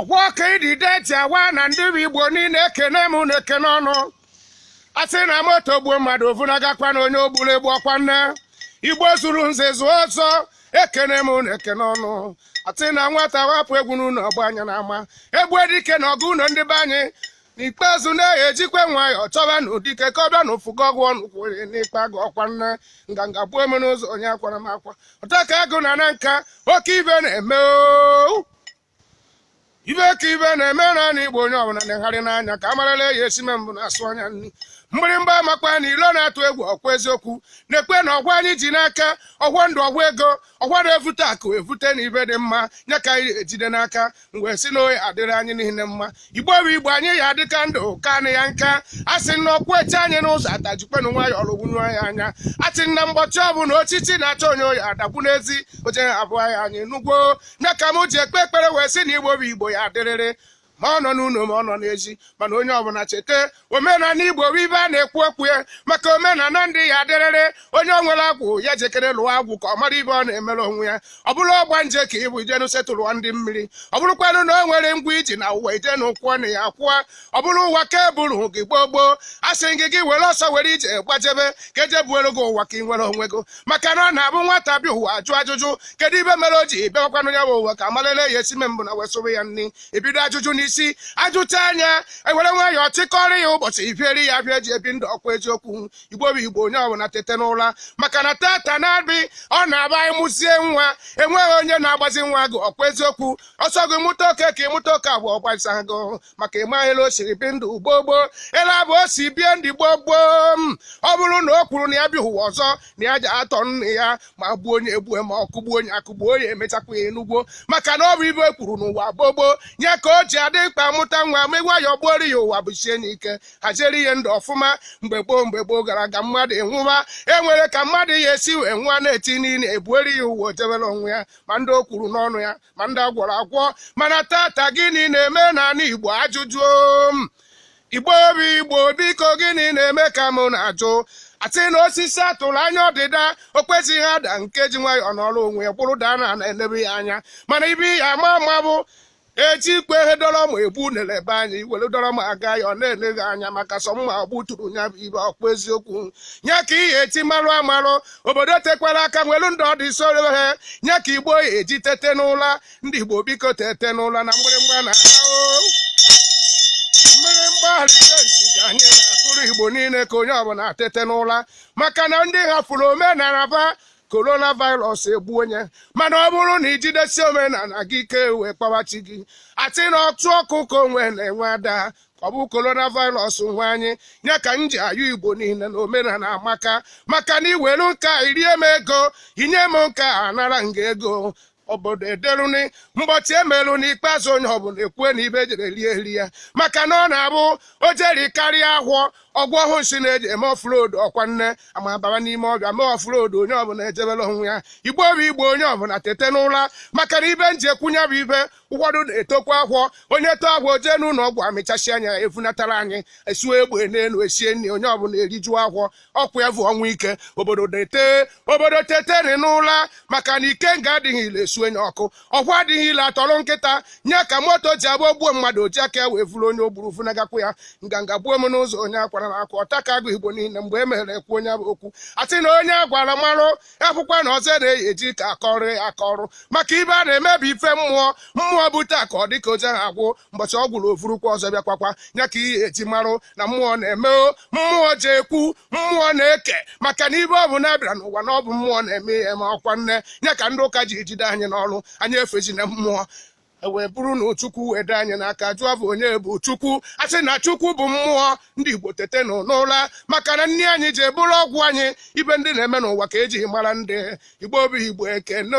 ọfọ ka idide ji awa ana ndị bụ igbo niile ekene m na-ekene unu a sị na moto gbuo mmadụ o vunagakwana onye o gburu egbu ọkwa na igbo zuru nze zuo ọzọ ekene m na-ekene unu a sị na nwata wapụ egwu n'ụlọ ọ gbaa nya n'ama egbuo dike n'ọgụ ụlọ ndị be anyị n'ikpeazụ na-eyi ejikwa nwayọọ chọba na dike ka ọ bịa na ụfụgo ọgụ ọnụ kwụrụ n'ikpa agụ ọkwa na nganga gbuo eme n'ụzọ onye akwara m akwa ọta ka agụ na na nka oke ibe na-eme oo ibe ka ibe na-eme n'ana igbo onye ọbụla na-egharị n'anya ka amarala eyi e si eme mbụ na-asụ anya nri mgbịrịmgba amakwa n'ilo na-atụ egwu ọkwa eziokwu nekwe na ọfọ anyị ji n'aka ọfọ ndụ ọfọ ego ọfọ na-evute akụ evute na ibe dị mma nya ka anyị ejide n'aka wee sị na ọ ya-adịrị anyị niile mma igbo bụ igbo anyị ya adịka ndụ ka anị ya nka a sị na ọ kwụ eche anyị n'ụzọ ata jikwenụ nwayọ lụgwunye ya anya a sị na mgbọchi ọbụla ochichi na-achọ onye ọ ya-adagbu n'ezi ọ je abụha anyị nugwo nya ka m ji ekpe ekpere wee sị na igbo bụ igbo ya-adịrịrị ma ọ nọ n'ụlọ ma ọ nọ n'ezi mana onye ọbụla cheta omenala igbo bụ ibe a na-ekwu okwu ya maka omenala ndị ya-adịrịrị onye o nwere agwụ ya jekere lụọ agwụ ka ọ mara ibe ọ na-emere onwe ya ọ bụrụ ọgbanje ka ị bụ i jenụ setụlụọ ndị mmiri ọ bụrụkwanụ na o nwere ụgwọ i ji n'ụwa i jenụ kwụọnụ ya kwụọ ọ bụrụ ụwa ka eburu gị gboo gboo a sị gị gị were ọsọ were ije gbajebe ka eje buoro gị ụwa ka ị nwere onwe gị maka na ọ na-abụ nwata bịa ụwa ajụ ajụjụ kedu ibe mere o ji bịawakwanụ ya bụ ụwa ka amalele ya e si eme mbụ na wesụrụ ya nri ebido ajụjụ n'isi ajụchaa nya ewere nwayọọ chịkọrọ ya ụbọchị ibieri ya bịa ji ebi ndụ ọkwa eziokwu igbo bụ igbo onye ọbụla tete n'ụra maka na tata nabị ọ na-abụ anyị mụzie nwa enweghị onye na-agbazi nwa gị ọkwa eziokwu ọ sọ gị mụta oke ka ị mụta oke abụọ ọ gbasa gị maka ị maghị ele o siri bi ndụ gboo gboo ele abụ o si bie ndụ gboo gboo m ọ bụrụ na o kwuru na ya bịa ụwa ọzọ na ya ja-atọ nne ya ma gbuo onye egbuo ma ọ kụgbuo onye akụgbuo ya emechakwa ya ị nugwo maka na ọ bụ ibe e kwuru n'ụwa gboo gboo nya ka o ji adị mkpa mụta nwa ma ị gwa ya buoro ya ụwa busie n'ike haziere ihe ndụ ọfụma mgbe gboo mgbe gboo gara aga mmadụ nwụwa e nwere ka mmadụ ya-esi wee nwụọ na-eti n'ini ebuoro ya ụwa o jebere onwe ya ma ndị o kwuru n'ọnụ ya ma ndị agwọrọ agwọ mana tata gịnị na-eme n'ala Igbo ajụjụ m Igbo bụ Igbo biko gịnị na-eme ka mụ na-ajụ a sị na osisi a tụrụ anya ọdịda o kwezighị ada nke ji nwayọọ nọrọ onwe ya kwụrụ daa na na-elebe ya anya mana ibe ya ama ama bụ ejikwe ihe dọrọ ma ebu na-elebe anya iwere dọrọ ma aga ya ọ na-eleghị anya maka sọ mma gbuturu ya bụ ibe ọ bụ eziokwu nya ka ihe eji marụ amarụ obodo tekwara aka nwelu ndụ ọdụ isoro ha nye ka igbo eji tete n'ụla ndị igbo biko tete n'ụla na mgbịrịmgba na mgbịrịmgba alitenti ka anyị na-akụrụ igbo niile ka onye ọbụla tete n'ụla maka na ndị hafụrụ omenala ba korona virus egbu onye mana ọ bụrụ na ijidesi omenala gị ike wee kpọwa chi gị asị na ọtụ ọkụ ka onwe na-enwe ada ọ bụ coronavirus nwe anyị ya ka m ji ayọ igbo niile na omenala amaka maka na iwelu nka irie m ego inye m nka anara m gị ego obodo ederuni mbọchị emerụ n'ikpeazụ onye ọbụla ekwue na ive jere rie eri ya maka na ọ na-abụ o je rikarịa ahọ ọgwụ ọhụụ si na-eji eme ọfụrodu ọkwa nne ama baba n'ime ọvịa mee ọfụrodu onye ọbụla ejebela onwe ya igbo bụ igbo onye ọbụla tete n'ụra maka na ive m ji ekwu nya bụ ive ụfọdụ na-etokwa ahọ onye eto ahọ jee n'ụlọ ọgwụ amịchasịa nya evunatara anyị esuo egbe n'elu esie nri onye ọbụla erijuo ahọ ọkwa ya bụ ọnwa ike obodo na-ete obodo teteri n'ụla maka na ikenga adịghị ile esunye ọkụ ọkwa adịghị ile atụọrọ nkịta nya ka moto ji abụ ogbuo mmadụ o ji aka ya wee vuru onye o gburu vunagakwu ya nganga gbuo m n'ụzọ onye akwara na akwa ọta ka agụ igbo niile mgbe e mere ekwu onye bụ okwu asị na onye agwara marụ akwụkwọ na ọzọ na-eyi eji ka akọrụ akọrụ maka ive a na-emebu ife mmụọ mmụọ bute ka ọ dịka oje ha agwụ mbọchị ọ gwụrụ o vurukwa ọzọ bịakwakwa ya ka ihe eji marụ na mmụọ na-eme mmụọ ji ekwu mmụọ na-eke maka na ive ọbụna bịara n'ụwa na ọ bụ mmụọ na-eme ihe ma ọkwa nne ya ka ndị ụka ji ejide anyị n'ọrụ anyị efezina mmụọ ewee e bụrụ na Chukwu wee dị anyị n'aka jụọ va onye bụ Chukwu asị na Chukwu bụ mmụọ ndị Igbo tetenụ n'ụla maka na nni anyị ji bụrụ ọgwụ anyị ive ndị na-eme n'ụwa ka eji mara ndị Igbo bụ Igbo ekene